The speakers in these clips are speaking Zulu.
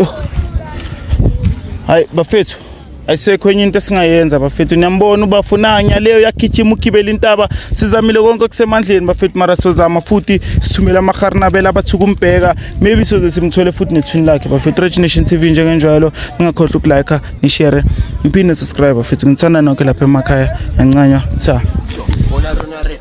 Oh. Hayi bafethu ayisekho enye into esingayenza bafethu niyambona ubafuna nyaleyo yagijima ugibela intaba sizamile konke okusemandleni bafethu mara sozama futhi sithumele amaharnabela abathuka umbheka maybe soze simthole futhi nethwini lakhe bafethu rich nation tv njengenjalo ningakhohlwa ukulike nishere ngiphinde subscribe bafethu ngithanda nonke lapha emakhaya yancanywa cha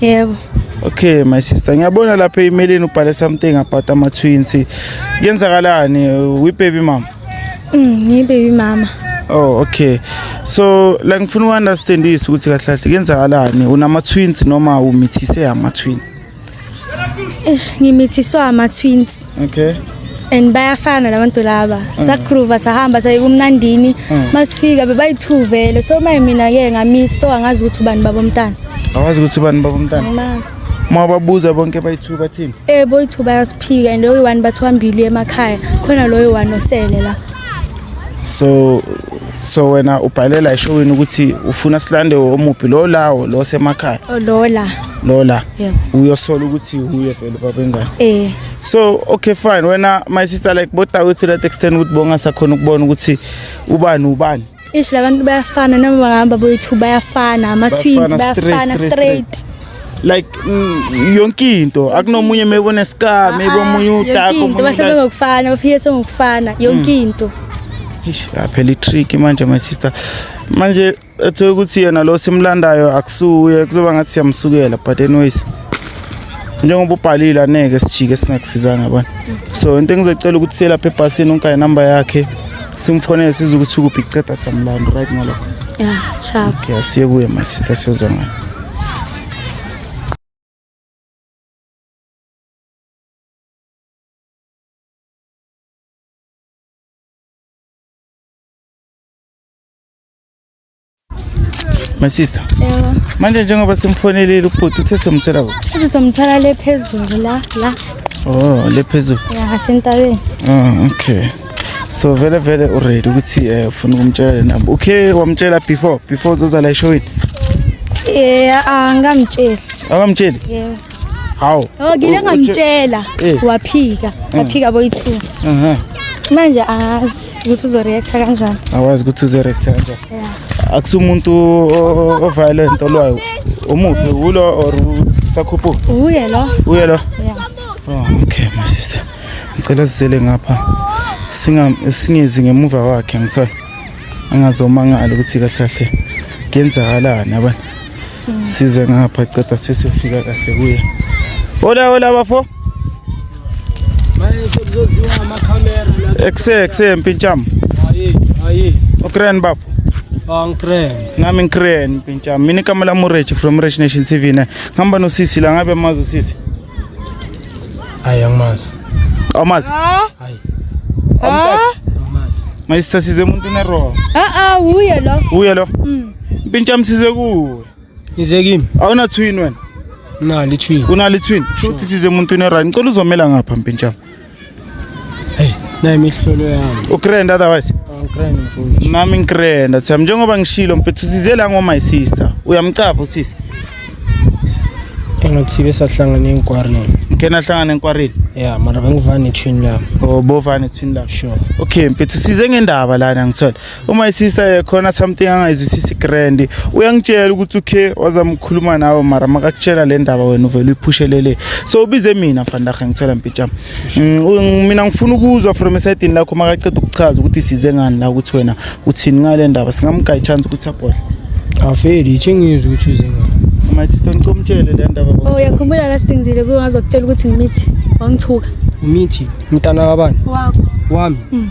Yebo. Okay my sister ngiyabona lapha emailini ubhale something about ama twins. Kuyenzakalani we baby mama? Mm, ngi baby mama. Oh okay. So la ngifuna u understand isu ukuthi kahle kahle kuyenzakalani unama twins noma umithise ama twins? Eish ngimithiswa ama twins. okay and bayafana labantu laba mm. sakhruva sahamba saye kumnandini mm. masifika bebayi-two vele so maye mina-ke ngami so angazi ukuthi ubani baba umntana awazi ukuthi ubani baba umntana angimazi uma babuza bonke bayi-two bathini eh boyi-two bayasiphika and loyo one bathi wambili emakhaya khona loyo one osele la so so wena ubhalela eshowini ukuthi ufuna silande omuphi lo lawo lo semakhaya oh, lo la lo la yeah. uyosola ukuthi uye vele baba ingane eh so okay fine wena my sister like bota ukuthi let extend ukuthi bonga sakhona ukubona ukuthi ubani ubani ish labantu bayafana noma bahamba boyithu bayafana ama twins bayafana straight, straight. straight. like mm, yonke into akunomunye maybe unescar maybe ah, ah, omunye udaka into bahlebe ngokufana bafiyese ngokufana yonke mm. into ish yaphela itrick manje my sister manje ethe ukuthi yena lo simlandayo akusuye kuzoba ngathi siyamsukela but anyways njengoba ubhalile aneke sijike singakusizanga yabona so into engizocela ukuthi siye lapha ebhasini unkaye number yakhe simfonele size ukuthi ukuphi iceda samlando right ngalokho yeah sharp okay asiye kuye my sister siyozwa ngayo My sister. Yebo. Manje njengoba simfonelile ubhuti uthe somthola kuphi? Uthi somthola le phezulu la la. Oh, le phezulu. Ya, sentabeni. Oh, okay. so vele vele uready ukuthi eh ufuna ukumtshela le number okay wamtshela before before uzoza la eshowini yeah angamtsheli akamtsheli yeah hawu oh ngile ngamtshela eh. waphika eh. waphika boy 2 mhm manje azi ukuthi uzoreacta kanjani awazi ukuthi uzoreacta kanjani akusumuntu oviolent olwayo umuphi ulo or sakhuphu uye lo uye lo yeah oh okay my sister ngicela sizele ngapha singezi ngemuva kwakhe ngithiwa angazomangala ukuthi kahle kahle kuyenzakalani abantu mm. size ngapha ceda sesiyofika kahle kuye hola hola bafo ekuse ekuse mpintsham ukren bafo ah, nami ngikren mpintsham mina igama lam urechi from rech nation tv ne ngihamba nosisi la ngabe mazi usisi Hayi angimazi. Awumazi? Hayi. Awumazi. Mayisitha size umuntu nero. Ah ah uye lo. Uye lo. Mm. Impintsha msize kuwe. Nize kimi. Awuna twin wena. Unali twin. Unali twin. Shuthi size umuntu nero. Ngicela uzomela ngapha mpintsha. na imihlolo yami ugrand otherwise nami ngigranda siyam njengoba ngishilo mfethu size la ngoma sister uyamcapha usisi engathi besahlangana enkwareni ngike nahlangana enkwareni ya mara bengivane ethwini lami o oh, bovane ethwini lami sure okay mfethu size ngendaba lana ngithola uma isister yekhona something angayizwisisi grand uyangitshela ukuthi ukhe wazamkhuluma nawe mara makakutshela le ndaba wena uvele uyiphushelele so ubize mina mfandahe ngithola mpitsham mm, mina ngifuna ukuzwa from esidini lakho makaceda ukuchaza ukuthi size ngani la ukuthi wena uthini ngale ndaba singamgaya chance ukuthi abhodle afeli ithi ngizwe ukuthi uze ngani my sister ngicela umtshele le ndaba oh uyakhumbula last thing zile kungazokutshela ukuthi ngimithi wangithuka umithi mntana wabani wakho wami mm.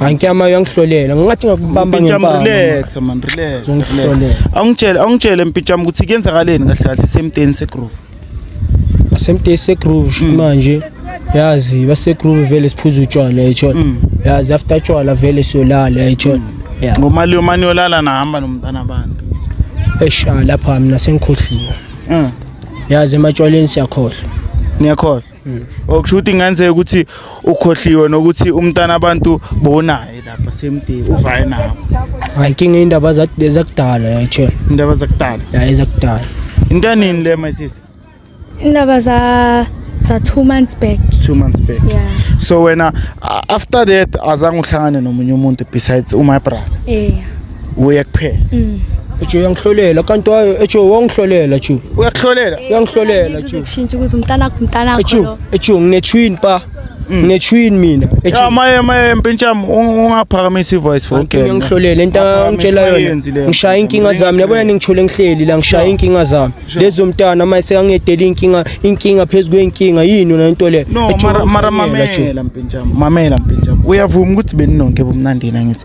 Ankyama uyangihlolela. Ngingathi ngakubamba ngempama. Mpintshamu relax man relax. Ungihlolela. Awungitshele awungitshele Mpintshamu ukuthi kuyenzakaleni kahle kahle semteni segroove. Asemteni segroove shit mm. manje. Yazi basegroove vele siphuza utshwala yitshona. Mm. Yazi after utshwala vele siyolala yitshona. Mm. Yeah. Ngomali yomani yolala nahamba nomntana abantu. Esha lapha mina sengikhohliwe. Mm. Yazi ematshwaleni siyakhohlwa. Niyakhohlwa. okushuthi kungenzeka ukuthi ukhohliwe nokuthi umntana abantu bonaye lapha same day uvaye nawo hayi inkinga indaba zakudala yatshe indaba zakudala ya ezakudala into nini le my sister indaba za za 2 months back 2 months back yeah so wena after that azange uhlangane nomunye umuntu besides u my brother yeah uye kuphela mm. ejo uyangihlolela kanti wayo ejo wangihlolela ju uyakuhlolela eh, uyangihlolela ju kushintsha ukuthi umntana wakho umntana wakho ejo ejo ngine twin pa mm. ngine twin mina ejo ya maye maye mpintsham ungaphakamisa ivoice for okay ngiyangihlolela into angitshela yona ngishaya inkinga zami yabona ningithole ngihleli la ngishaya inkinga zami lezo mntana maye sekangedela inkinga inkinga phezulu kwenkinga yini yona into le no mara mara mamela mpintsham mamela mpintsham uyavuma ukuthi beninonke bomnandina ngithi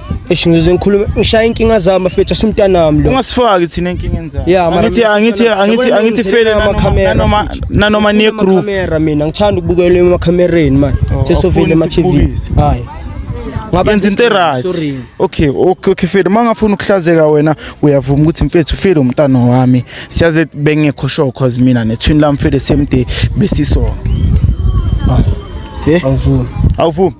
Eish ngize ngikhulume ngishaya inkinga zami bafethu asimntanami lo. Ungasifaki thina enkingeni zakho. Yeah, mara angithi mina- angithi angithi Yabona angithi ngizele fele nanoma amakhamera, nanoma futhi. nanoma niye group. Amakhamera mina ngithanda ukubukela emakamereni manje. Oh, Sesovile awufuni ama TV. sikubukise. Hayi. Ngaba Yenza into right. Sorry. Okay, okay, okay Fede, mangafuna ukuhlazeka wena uyavuma ukuthi mfethu Fede umntana wami. Siyaze bengekho sure cause mina nethwini lami Fede same day besisonke. Hayi. Eh, Awuvumi. awuvumi.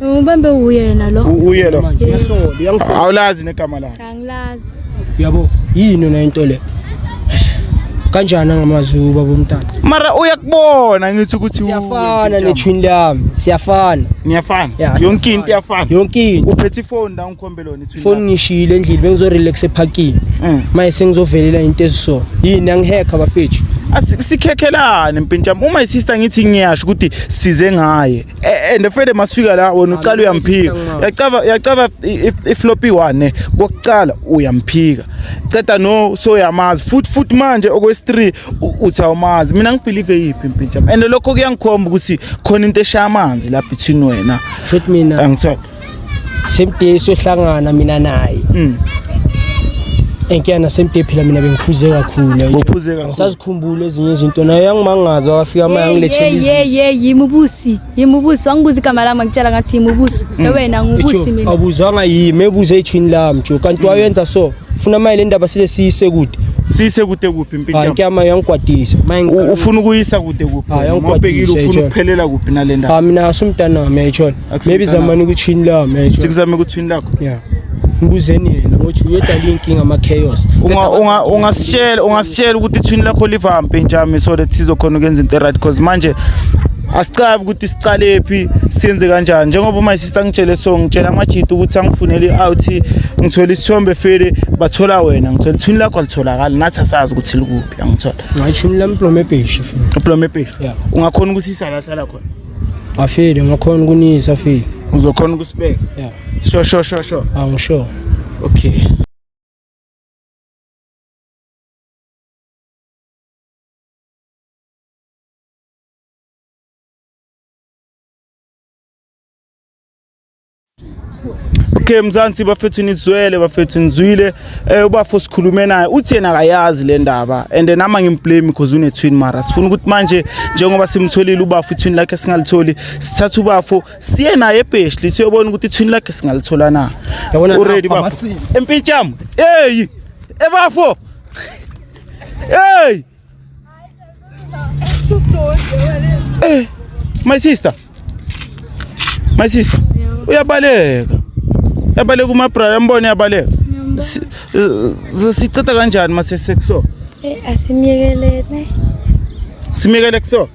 Ubambe uyena lo. Uye lo. Ngiyasola, uyangisola. Awulazi negama lakhe. Angilazi. Yabo, yini yona into le? Kanjani ngamazulu baba umntana? Mara uyakubona ngithi ukuthi u- Siyafana nethwini lami, siyafana. Niyafana. Yeah, Yonke into iyafana. Yonke into. Uphethe ifoni la ungikhombe lona ithi. Foni ngishiyile endlini bengizo relax eparking. Mm. Maye sengizovelela into eziso. Yini angihacker bafethu? Asikhekhelane mpintshami. Uma isister ngithi ngiyasho ukuthi size ngaye. Eh, and fede masifika la wena ucala uyamphika yacaba yacaba ifloppy one kokucala uyamphika ceda no so yamazi futhi futhi manje okwesi3 uthi awumazi mina ngibelieve yipi impintsha and lokho kuyangikhomba ukuthi khona into eshaya amanzi la between wena shothi mina angithola semde sohlangana mina naye mm. enkiyana semde phela mina bengiphuze kakhuluangisazikhumbula ezinye izinto naye yangimangaza wafika ama yangilethayimubusi yimubusi wangibuza igama lami angitshela ngathi yimubusi mm. ewena ngubusi mina abuzanga yimi ebuze ethwini lami jo kanti mm. wayenza so funa maye le ndaba sile siyise kude siyise kude kuphi impintyama yangigwadisa ufuna ukuyisa kude kuphi ngobhekile ufuna ukuphelela kuphi nale ndaba mina asumntanami yayitshona maybe zamani ukuthi yini lawo manje sikuzame ukuthi yini lakho yeah ngibuzeni yena ngothi uyedala inkinga ama chaos unga unga ungasitshela ungasitshela ukuthi ithwini lakho livampe njami so that sizokhona ukwenza into right because manje asicabi ukuthi siqale phi siyenze kanjani njengoba my sister ngitshele so ngitshela amajita ukuthi angifunele i-out ngithola isithombe fele bathola wena ngithola ithuni lakho alitholakali nathi asazi ukuthi likuphi angithola ngayishumi lami plomebheshi plomebheshi ungakhona ukuthi isalahlala khona Afile ngakhona ukunisa afile. Uzokhona ukusibeka? Yeah. Sho sho sho sho. Angisho. Okay. Okay Mzansi bafethu nizwele bafethu nizwile eh ubafo sikhulume naye uthi yena akayazi le ndaba and nama ngimblame because une twin mara sifuna ukuthi manje njengoba simtholile ubafo twin lakhe singalitholi sithatha ubafo siye naye ebheshli siyobona ukuthi twin lakhe singalithola na yabona ready bafo empintsham hey ebafo hey Eh, my sister. My sister. Uyabaleka. Yabaleka uma brother ambone yabaleka. Si- eh, Siceda kanjani mase sekuso? Eh, asimyekelene. Simekele kuso.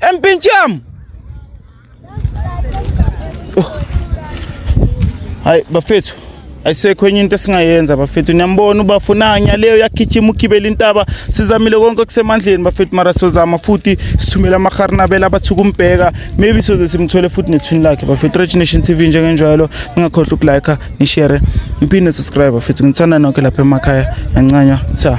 Empincham. Oh. Hayi bafethu ayisekho enye into esingayenza bafethu niyambona ubafuna nyaleyo yagijima ugibela intaba sizamile konke okusemandleni bafethu mara sozama futhi sithumela amaharnabela abathuka umbheka maybe soze simthole futhi nethwini lakhe bafethu rich nation tv njengenjalo ningakhohlwa ukulike nishere ngiphinde subscribe bafethu ngithanda nonke lapha emakhaya yancanywa sa